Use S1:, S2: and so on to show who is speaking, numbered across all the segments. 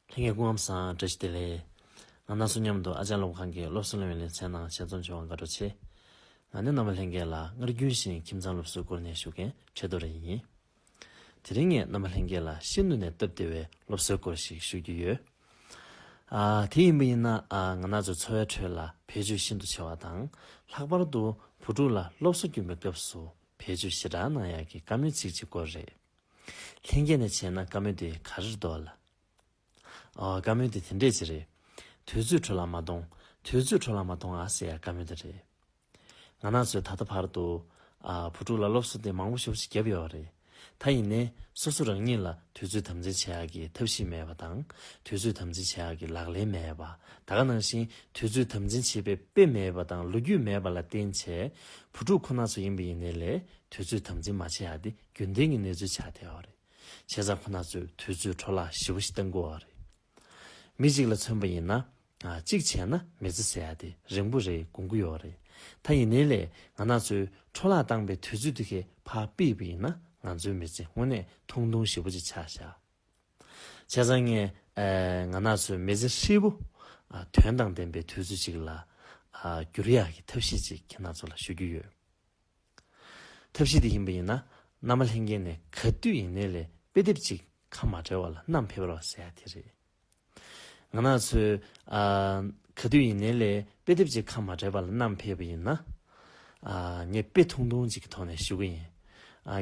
S1: ལྷན་རྒྱས་སྐུ་ངམ་སང་བཀྲ་ཤིས་བདེ་ལེགས། ང་ནག་སུ་མཉམ་དུ་ཨ་ཅག་སློབ་ཁང་གི་སློབ་གསོ་སློན་བའི་ལེ་ཚན་ནང་ཆེད་རྩོམ་བྱུང་བ་དགའ་སྤྲོ་ཆེ། ང་ནི་ནང་པ་ལྷན་རྒྱས་ལ་སྔར་རྒྱུན་བཞིན་ཁྱིམ་ཚང་སློབ་གསོའི་སྐོར་ནས་ཞུ་མཁན་ཁྲི་རྡོ་རེ་ཡིན། དེ་རིང་ངས་ནང་པ་ལྷན་རྒྱས་ལ་ཤིན་ཏུ་ནས་སྟབས་བདེ་བའི་སློབ་གསོའི་སྐོར་ཞིག་ཞུ་རྒྱུ་ཡོད། དེ་ཡིན་པ་ཡིན་ན་ང་ནག་ཚོའི་འཚོ་བའི་ཁྲོད་ལ་བེད་སྤྱོད་ཤིན་ཏུ་ཆེ་བ་དང་ལྷག་པར་དུ་བུ་ཕྲུག་ལ་སློབ་གསོ་སྐྱོན་པའི་སྐབས་སུ་བེད་སྤྱོད་ཞེ་དྲག་གནང་ཡག་གི་བཀའ་མོལ་ཚིག་གཅིག་སྐོར་རེད། ལྷན་སྐྱེས་ནས་བྱས་ན་བཀའ་མོལ་དེ་ག་རེར་འདོད་ལ། ཨོ། བཀའ་མོལ་དེ་དེ་འདྲས་ཅིག་རེད། དུས་ཚོད་འཕྲོ་ལ་མ་གཏོང། དུས་ཚོད་འཕྲོ་ལ་མ་གཏོང་ཨ་ཟེར་ཡ་བཀའ་མོལ་དེ་རེད། ང་ནག་ཚོས་ད་ལྟ་བར་དུ། ཨ། བུ་ཕྲུག་ལ་སློབ་གསོ་དེ་མང་པོ་ཤོག་ཤིག་བརྒྱབ་ཡོད་བ་རེད། ད་ཡིན་ནའི་སོ་སོ་རང་ཉིད་ལ་དུས་ཚོད་དམ་འཛིན་བྱེད་ཡག་གི་ཐབས་ཤེས་མེད་པ་དང། དུས་ཚོད་དམ་འཛིན་བྱེད་ཡག་གི་ལག་ལེན་མེད་པ། ད་ག་ནང་བཞིན་དུས་ཚོད་དམ་འཛིན་བྱེད་པའི་དཔེ་མེད་པ་དང་ལོ་རྒྱུས་མེད་པ་ལ་བརྟེན་བྱས། བུ་ཕྲུག་ཁོ་ནག་ཚོ་ཡིན་པ་ཡིན་ནའི་ལས་དུས་ཚོད་དམ་འཛིན་མ་བྱེད་ཡག་དེ་རྒྱུན་ལྡན་གྱི་གནས་ཚུལ་ཆགས་བསྡད་པ་རེད། བྱས་ཙང་ཁོ་ན་ཚོས་དུས་ཚོད་འཕྲོ་བརླག་ཞིབ་པོ་ཞིག་གཏང་དགོས་བ་རེད། མི་གཅིག་ལ་མཚོན་པ་ཡིན་ན། གཅིག་བྱས་ན་མི་ཚེ་ཟད་ཡ་དེ་རིང་པོ་རེད་དགོངས་ཀྱི་ཡོད་རེད། ད་ཡིན་ནའི་ལས་ང་ན་ཚོས་འཕྲོ་བརླག་བཏང་པའི་དུས་ཚོད་དེ་ཁས་ཕ་པིས་པི་ཡིན་ན་ང་ཚོའི་མི་ཚེ་དངོས་གནས་ཐུང་ཐུང་ཞིབ་པོ་ཅིག་ཆགས་བཞག་བྱས་ཙང་ངས་ང་ན་ཚོས་མི་ཚེ་ཧྲིལ་པོ་དོན་དང་ལྡན་པའི་དུས་ཚོད་ཅིག་ལ་བསྒྱུར་ཡག་གི་ཐབས་ཤེས་ཅིག་ཁྱེད་ན་ཚོ་ལ་ཞུ་རྒྱུ་ཡོད། ཐབས་ཤེས་དེ་ཡིན་པ་ཡིན་ན་བླ་མ་ལྷན་རྒྱས་ནས་ག་དུས་ཡིན་ནའི་ལས་དཔེ་དེབ་ཅིག་ཁ་མ་བྲལ་བ་ལ་བསྣམས་ཕེབས་རོགས་ཟེར་ཡ་དེ་རེད། ང་ནག་ཚོས་ག་དུས་ཡིན་ནའི་ལས་དཔེ་དེབ་ཅིག་ཁ་མ་བྲལ་བ་ལ་བསྣམས་ཕེབས་པ་ཡིན་ན། ངས་དཔེ་ཐུང་ཐུང་ཅིག་གི་ཐོག་ནས་ཞུ་གི་ཡིན།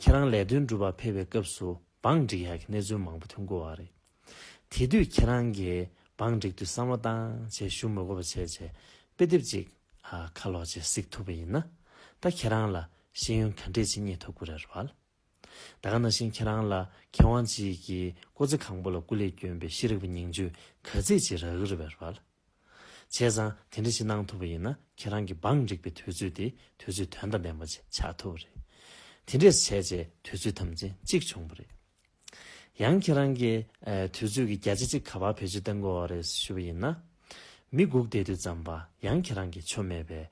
S1: ཁྱེད་རང་ལས་དོན་སྒྲུབ་པར་ཕེབས་པའི་སྐབས་སུ་བང་སྒྲིག་ཡག་གི་གནས་ཚུལ་མང་པོ་ཐོན་དགོས་བ་རེད། དེ་དུས་ཁྱེད་རང་གིས་བང་བསྒྲིགས་དུས་བསམ་བློ་བཏང་བྱས་ཞུ་མི་གོ་བ་བྱས་བྱས་དཔེ་དེབ་ཅིག་ཁ་ལོག་བྱས་གཟིགས་ཐུབ་པ་ཡིན་ན་ད་ཁྱེད་རང་ལ་ཤེས་ཡོན་ག་འདྲས་ཅིག་རྙེད་ཐུབ་དགོས་རེད་བལ། ད་ག་ན་བཞིན་ཁྱེད་རང་ལ་མཁས་དབང་ཅིག་གིས་ཀོ་ཙེ་གང་པོ་ལ་སྐུ་ལས་བསྐྱོན་པའི་ཤེས་རིག་པ་ཉིང་བཅུད་ག་ཚད་ཅིག་རག་གི་རེད་བལ། བྱས་ཙང་དེ་འདྲ་ཞིག་གནང་ཐུབ་པ་ཡིན་ན་ཁྱེད་རང་གི་བང་བསྒྲིགས་པའི་དུས་ཚོད་དེ་དུས་ཚོད་དོན་དང་ལྡན་པ་ཅིག་ཆགས་ཐུབ་པ་རེད། དེ་འདྲས་བྱས་བྱས་དུས་ཚོད་ཐམས་ཅད་གཅིག་བྱུང་བ་རེད། ཡང་ཁྱེད་རང་གིས་དུས་ཚོད་ཀྱི་བརྒྱ་ཆ་གཅིག་ག་པར་བེད་སྤྱོད་གཏང་དགོས་བ་རེད་ཞུ་བ་ཡིན་ན། མི་སྒུག་བསྡད་དུས་ཙམ་པ་ཡང་ཁྱེད་རང་གིས་ཆོ་མེད་པའི་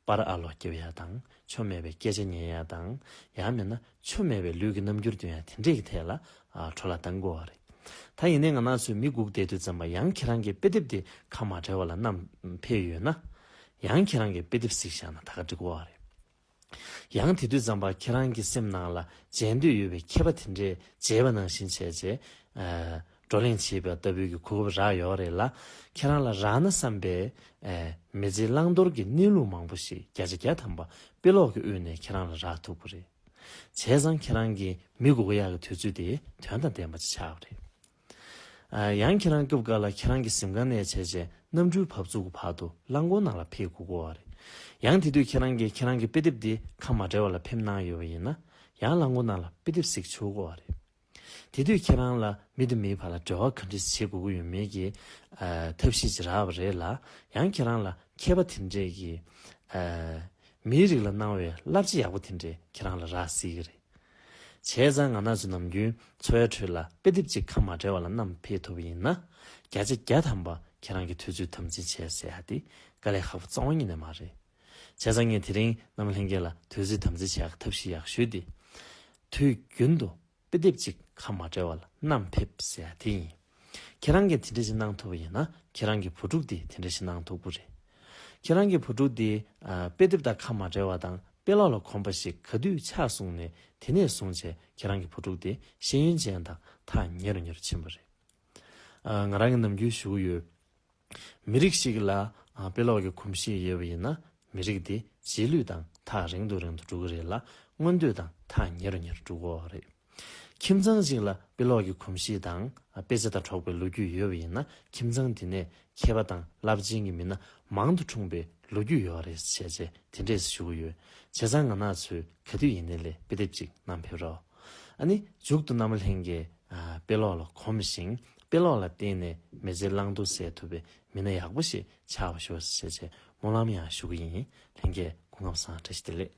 S1: པར་ཨ་ལོ་སྐྱབས་ཡག་དང་ཆོ་མེད་པའི་སྐད་ཆ་ཉན་ཡག་དང་ཡང་མེད་ན་ཆོ་མེད་པའི་ལུས་ཀྱི་རྣམ་འགྱུར་དུ་ཡང་དེ་འདྲས་ཀྱི་ཐད་ལ་འཕྲོ་ལ་གཏང་དགོས་བ་རེད། ད་ཡིན་ནའི་ང་ནག་ཚོས་མི་སྒུག་བསྡད་དུས་ཙམ་པ་ཡང་ཁྱེད་རང་གིས་དཔེ་དེབ་དེ་ཁ་མ་བྲལ་བ་ལ་བསྣམས་ཕེབས་ཡོད་ན། ཡང་ཁྱེད་རང་གིས་དཔེ་དེབ་གཟིགས་བཞག་ན་ད་ག་འགྲིག་གོ་བ་རེད། ཡང་དེ་དུས་ཛམ་པ་ཁྱེད་རང་གི་སེམས་ནང་ལ་མཇལ་འདོད་ཡོད་པའི་མཁས་པ་དེ་འདྲས་མཇལ་བ་ནང་བཞིན་བྱས་རྗེས་བགྲོ་གླེང་བྱེད་པའི་ལྟ་བུའི་གི་གོ་སྐབས་རག་ཡོད་རེད་ལ། ཁྱེད་རང་ལ་རག་ན་བསམ་པའི་མི་ཚེའི་བླང་དོར་གི་གནས་ལུགས་མང་པོ་ཞིག་བརྒྱ་ཆ་བརྒྱ་ཐམ་པ་དཔེ་ཀློག་གི་དབུས་ནས་ཁྱེད་རང་ལ་རག་ཐུབ་གི་རེད། བྱས་ཙང་ཁྱེད་རང་གི་མི་དགུ་གོ་ཡག་གི་དུས་ཚོད་དེ་དོན་དང་ལྡན་པ་ཅིག་ཆགས་པ་རེད། ཡང་ཁྱེད་རང་སྐབས་འགར་ལ་ཁྱེད་རང་གི་གཟིམ་ཁང་ནས་བྱས་བྱས་གནམ་གྲུའི་བབས་ཚུགས་ཀྱི་བར་དུ་རླངས་འཁོར་ནང་ལ་ཕེབས་དགོས་དགོས་བ་རེད། ཡང་དེ་དུས་ཁྱེད་རང་གིས་ཁྱེད་རང་གི་དཔེ་དེབ་དེ་ཁ་མ་བྲལ་བ་ལ་ཕེབས་གནང་ཡོད་བ་ཡིན་ན་ཡང་རླངས་འཁོར་ནང་ལ་དཔེ་དེབ་ཟིག་བྱུགས་དགོས་བ་རེད། དེ་དུས་ཁྱེད་རང་ལ་མི་དང་མིའི་བར་ལ་འབྲེལ་བ་ག་འདྲི་བྱེད་དགོས་ཀྱི་ཡོད་མེད་ཀྱི་ཐབས་ཤེས་ཅི་རག་བ་རེད་ལ་ཡང་ཁྱེད་རང་ལ་མཁས་པ་དེ་འདྲས་ཀྱིས་མིའི་རིགས་ལ་གནང་བའི་བསླབ་བྱ་ཡག་པོ་དེ་འདྲས་ཁྱེད་རང་ལ་རག་སྲིད་ཀྱི་རེད། བྱས་ཙང་ང་ནག་ཆུ་ནམ་རྒྱུན་འཚོ་བའི་ཁྲོད་ལ་དཔེ་དེབ་ཅིག་ཁ་མ་བྲལ་བ་ལ་བསྣམས་ཕེབས་ཐུབ་པ་ཡིན་ན། བརྒྱ་ཆ་བརྒྱ་ཐམ་པ་ཁྱེད་རང་གིས་ཐོས་ཚུལ་དམ་འཛིན་བྱས་ཟེར་ཡག་དེ་དཀའ་ལས་ཧ་པོ་གཙང་བ་གཉིས་ནས་མ་རེད། བྱས་ཙང་ངས་དེ་རིང་གནམ་ལྷན་རྒྱས་ལ་ཐོས་ཚུལ་དམ་འཛིན་བྱས་ཡག་གི་ཐབས་ཤེས་ཡག་ཞུས་ཏེ། དུས་རྒྱུན་དུ་དཔེ་དེབ་ཅིག་ཁ་མ་བྲལ་བ་ལ་བསྣམས་ཕེབས་ཟེར་ཡག་དེ་ཡིན། ཁྱེད་རང་གིས་དེ་འདྲ་ཞིག་གནང་ཐུབ་པ་ཡིན་ན་ཁྱེད་རང་གི་བུ་ཕྲུག་དེས་དེ་འདྲ་ཞིག་གནང་ཐུབ་ཀུ་རེད། ཁྱེད་རང་གི་བུ་ཕྲུག་དེས་དཔེ་དེབ་དང་ཁ་མ་བྲལ་བ་དང་དཔེ་ཀློག་ལ་གོམས་པ་ཞིག་ག་དུས་ཆགས་སོང་ནས་དེ་ནས་བཟུང་བྱས་ཁྱེད་རང་གི་བུ་ཕྲུག་དེ་ཤེས་ཡོན་ཅན་དང་ཐག་ཉེ་རུ་ཉེ་རུ་ཕྱིན་པ་རེད། ང་རང་གིས་ནམ་རྒྱུན་ཞུ་གི་ཡོད། མི་རིགས་ཤིག་ལ་དཔེ་ཀློག་གི་གོམས་གཤིས་ཡོད་པ་ཡིན་ན་མི་རིགས་དེ་གཞིས་ལུས་དང་ཐག་རིང་དུ་རིང་དུ་འགྲོ་གི་རེད་ལ་མངོན་འདོད་དང་ཐག་ཉེ་རུ་ཉེ་རུ་འགྲོ་གི་རེད། ཁྱིམ་ཚང་ཞིག་ལ་དཔེ་ཀློག་གི་གོམས་གཤིས་དང་དཔེ་ཆ་དང་གྲོགས་པའི་ལོ་རྒྱུས་ཡོད་པ་ཡིན་ན་ཁྱིམ་ཚང་དེ་ནས་མཁས་པ་དང་རླབས་ཆེན་གྱི་མི་སྣ་མང་དུ་འཁྲུངས་པའི་ལོ་རྒྱུས་ཡོད་རེད་བྱས་རྗེས་དེ་འདྲས་སུ་ཞུ་གི་ཡོད། བྱས་ཙང་ང་ནག་ཆུའི་ག་དུས་ཡིན་ནའི་ལས་དཔེ་དེབ་ཅིག་གནང་ཕེབས་རོགས། ཨ་ནི་འཇུག་ཏུ་ནམ་ལྷན་གྱི་དཔེ་ཀློག་ལ་གོམས་ཤིང་དཔེ་ཀློག་ལ་བརྟེན་ནས་མི་ཚེ་བླང་དོར་གསལ་ཐུབ་པའི་མི་སྣ་ཡག་པོ་ཞིག་ཆགས་པར་ཤོག་ཅེས་བཤད་ཆེད་སྨོན་ལམ་ཡང་ཞུ་གི་ཡིན། ལྷན་རྒྱས་སྐུ་ངམ་སང་བཀྲ་ཤིས་བདེ་ལེགས།